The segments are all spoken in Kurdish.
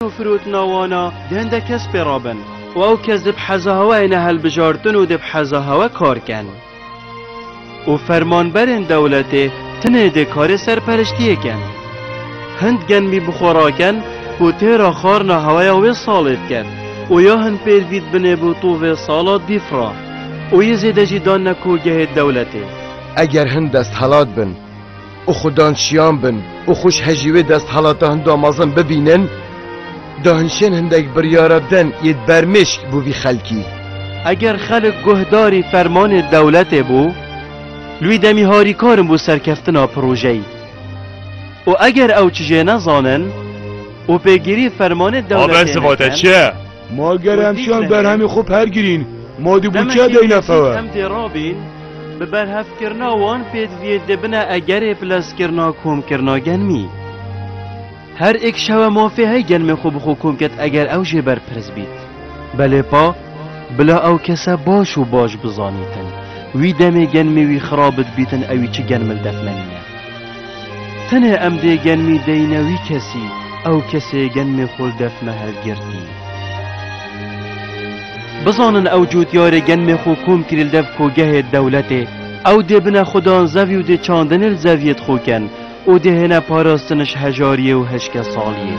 û firotina wan a di hin de kes pê re bin û ew kes dê bi heza hewa hêne hilbijartin û dê bi heza hewa kar kin û fermanberên dewletê tenê dê karê serperiştiyê kin. Hind genmî bi xwe rakin ku têra xarina hewaya wê salê dikin û ya hin pêr vî dibinê bo to vê sala dîf re û yê zêde jî danine kogehê dewletê. Eger hin desthilat bin, û xudan şiyan bin û xwe ji hejî wê desthelata hinda mezin bibînin, dahinşên hindek biryara din yên bermêşk bo vî xelkî. Eger xelik guhdarî fermanê dewletê bo, li wî demî harîkar in bo serkeftina projeyî û eger ew çijê nezanin û pêgirî fermanê dewletê nekin, Ma ger em çiyan berhemê xwe pergirîn, ma dê bi çi deyne fewe? Em dê rabîn bi berhevkirina wan pêdiviyê dê bine egerê pileskirina komkirina genmî. Her êk şewe mafê hey genmê xwe bi xwe kom ket eger ew jê berpirs bît. Belê pa, bila ew kese baş û baş bizanîtin. Wî demê genmê wî xirab dibîtin ewî çi genmil defmenîne. Tenê em dê genmî deyne wî kesî, ew kesê genmê xwe li def me hilgirtî. Bizanin ew cotyarê genmê xwe kom kirî li dev kogehê dewletê, ew dê bine xwedan zevî û dê çandinê li zeviyê dixwe ken û dê hêne parastin ji hejariyê û hişkesaliyê.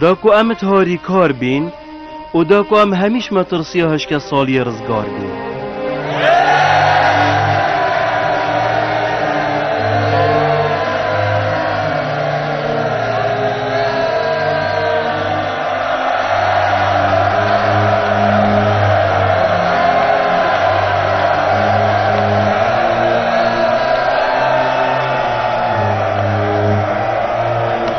Da ku em it harîkar bîn û da ku em hemîş metirsiya hişke saliyê rizgar bîn.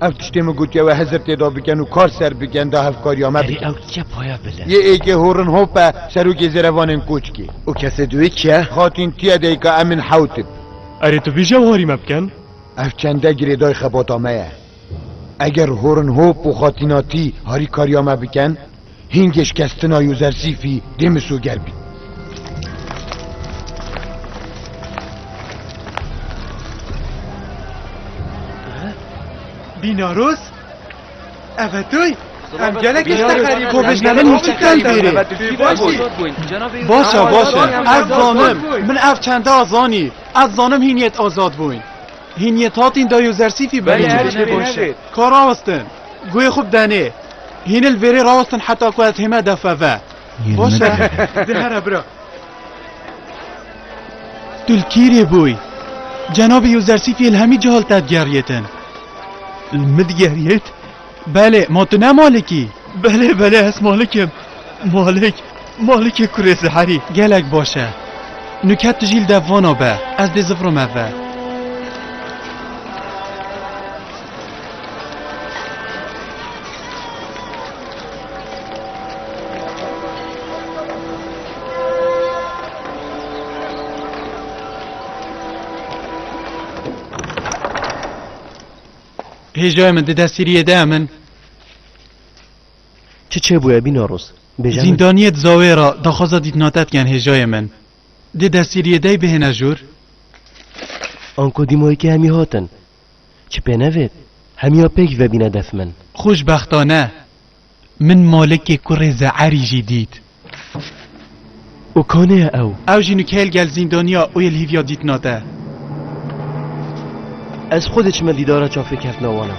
Ev tiştê min gotiye we hezir têda bikin û kar ser bikin da hevkariya me bikin. Ew diçe paya bile. Yê êkê horin hop e serokê zêrevanên koçkê. Û kesê duwê kî ye? Xatîn tiye deyka Emin Hewtib. Erê tu bêje warî me bikin? Ev çende girêdayê xebata me ye. Eger Horenhop û Xatinati harîkariya me bikin, hîngê şikestina Yozersîfî dê misoger bî. Bînaros? Ev e toy? Em gelek işte xerîb. Ko vejnevin hiç kay bêrê. Başa başa. Ez zanim. Min ev çenda zanî. Ez zanim hîn yet azad bûn. Hîn yên tatîn dayo zersîfî bi hîn tiştê baş e. Ka rawestin. Guhê xwe bi denê. Hîn li vêrê rawestin heta ku ez hême defe ve. Baş e. Di here bira. Tu li kîrê bûyî? Cenabê yo zersîfî li hemî cihal te digeriyêtin. Li min digeriyêt? Belê, ma tu ne Malik î? Belê, belê ez Malik im. Malik, Malik ê kurê Zeherî. Gelek baş e. Nûket tu jî li dev vana be. Ez dê zifrim ev ve. Hêja min di destgiriyê de em in. Çi çêbûye bîna roz? Bêje min. Zîndaniyê di Zawê re daxwaza dîtina te dikin hêjayê min. Di destgiriyê de bihêne jûr. Anko dîmayekê hemî hatin. Çi pê nevêt? Hemiya pêk vebîne def min. Xûşbextane. Min Malikê kurê Ze'erî jî dît. Û kanê ye ew? Ew jî nûkeyê li gel zîndaniya û yê li hîvîya dîtina te. Ez xwe dê çime dîdara çavkê keftina wan e.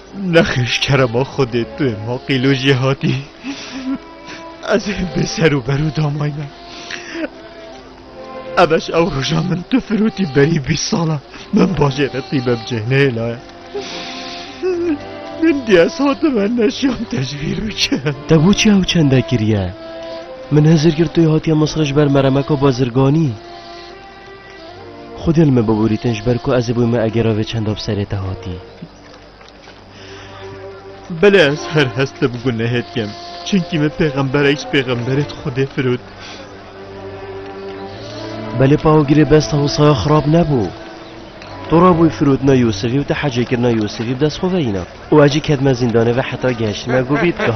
Nexêş kerema Xwedê tu yê ma qîlo jî hatî. Ez ê bê ser û berû damay me. Eveş ew roja min tu firotî berî bîst sala min bajê re tîbe bi cêh nêlaye. Min diye hatime neşyan tecvîr bikin. Te boçî ew çende kiriye? Min hezir kir tu yê hatiye Misrê ji ber meremeka bazirganî. Xwedê li min biborîtin ji ber ku ez ê bûyme egera vê çenda bi serê te hatî. Belê ez her hest li bi gunehê dikim. Çimkî min pêxemberek ji pêxemberê di Xwedê firot. Belê pawgirê besta hosaya xirab nebû. Tu rabûyî firotina Yûsifî û te hecêkirina Yûsifî bi dest xwe veyîna. Û ez jî ketime zîndanê ve heta gehiştime gubîtka.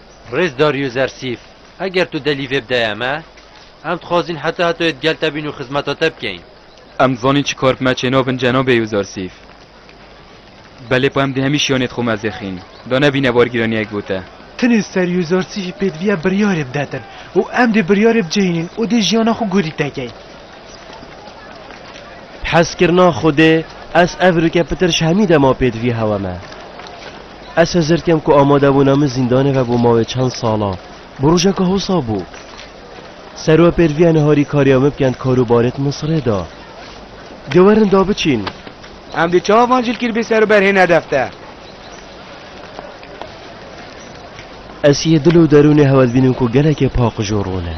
Rêz Darius Ersîf, Eger tu delî vê bidayê me, em dixwazîn heta heta yê di gel te bîn û xizmeta te bikeyn. Em dizanîn çi kar bi me çê nabin Cenab Eus Ersîf. Belê pa em di hemî şiyanê di xwe mezêxîn da nebîne bargîraniyek bo te. Tenê ser Eus Ersîfî pêdiviya biryarê bidetin û em dê biryarê bicihînin û dê jiyana xwe gorî tekeyn. Bi hezkirina Xwedê ez ev rike pitir ji hemî dema pêdivî hewa me. Ez hizir kem ku amadebûna min zîndanê vebû mavê çend sala. Bi rojeka hosa bû. Serwe pêrviya niharî kariya min bikend kar û barê di min sirê da. Dê werin da biçîn. Em dê çawa van cilkîr bê ser û ber hê nedef de. Ez yê dil û derûnê hewl bînim ku gelekê paqij û rûn e.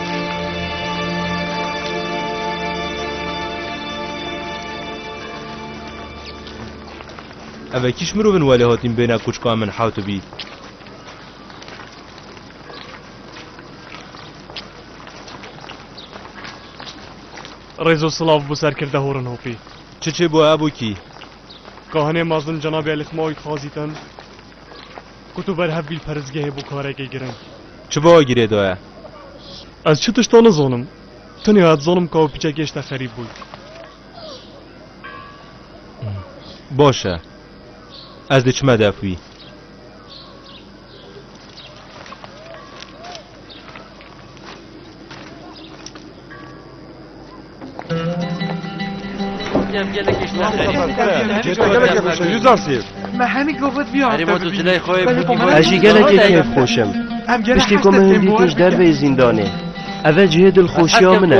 Eve kîş mirovin welê hatîn bêne kûçka min hewtibî. Rêzo silav bû serkirde horin hopî. Çi çê bû hebû kî? Kahinê mezin cenabê Elî Xmaoî Xazî tin. Ku tu berhev bî li perizgehê bû karekê giring. Çi bi wê girê daye? Ez çi tişta nizanim. Tenya dizanim ka wê piçekê ji te xerîb bûy. Baş e. Ez dê çime dev wî. Ez jî gelekê kêf xweş im. Piştî ku min hindî têj derveyî zîndanê. Ev e cihê dilxweşiya min e.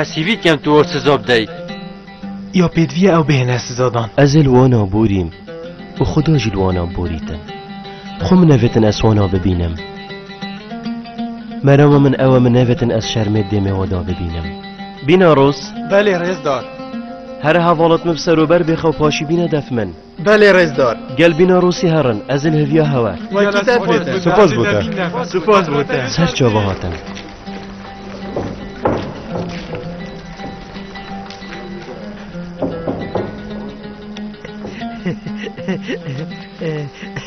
Ez hîvî kem tu or siza bidayî. Ya pêdiviya ew bêhêne sizadan. Ez ê li wana borîm û Xuda jî li wana borîtin. Xwe min nevêtin ez wana bibînim. Merama min ew e min nevêtin ez şermê dêmê we da bibînim. Bîna roz? Belê rêzdar. Here hevalat min bi serober bê xew paşî bîne def min. Belê rêzdar. Gel bîna Rûsî herin, ez li hêviya hewe. Wekî te bête. Spas bo te. Spas bo te. Ser çava hatin.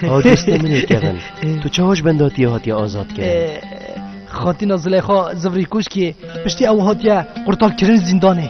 Ha dostê min ê Kevin. Tu çawa ji bendatiya hatiye azad kir? Xatîna Zileyxa Zivrî Kuşkî piştî ew hatiye qurtarkirin zîndanê.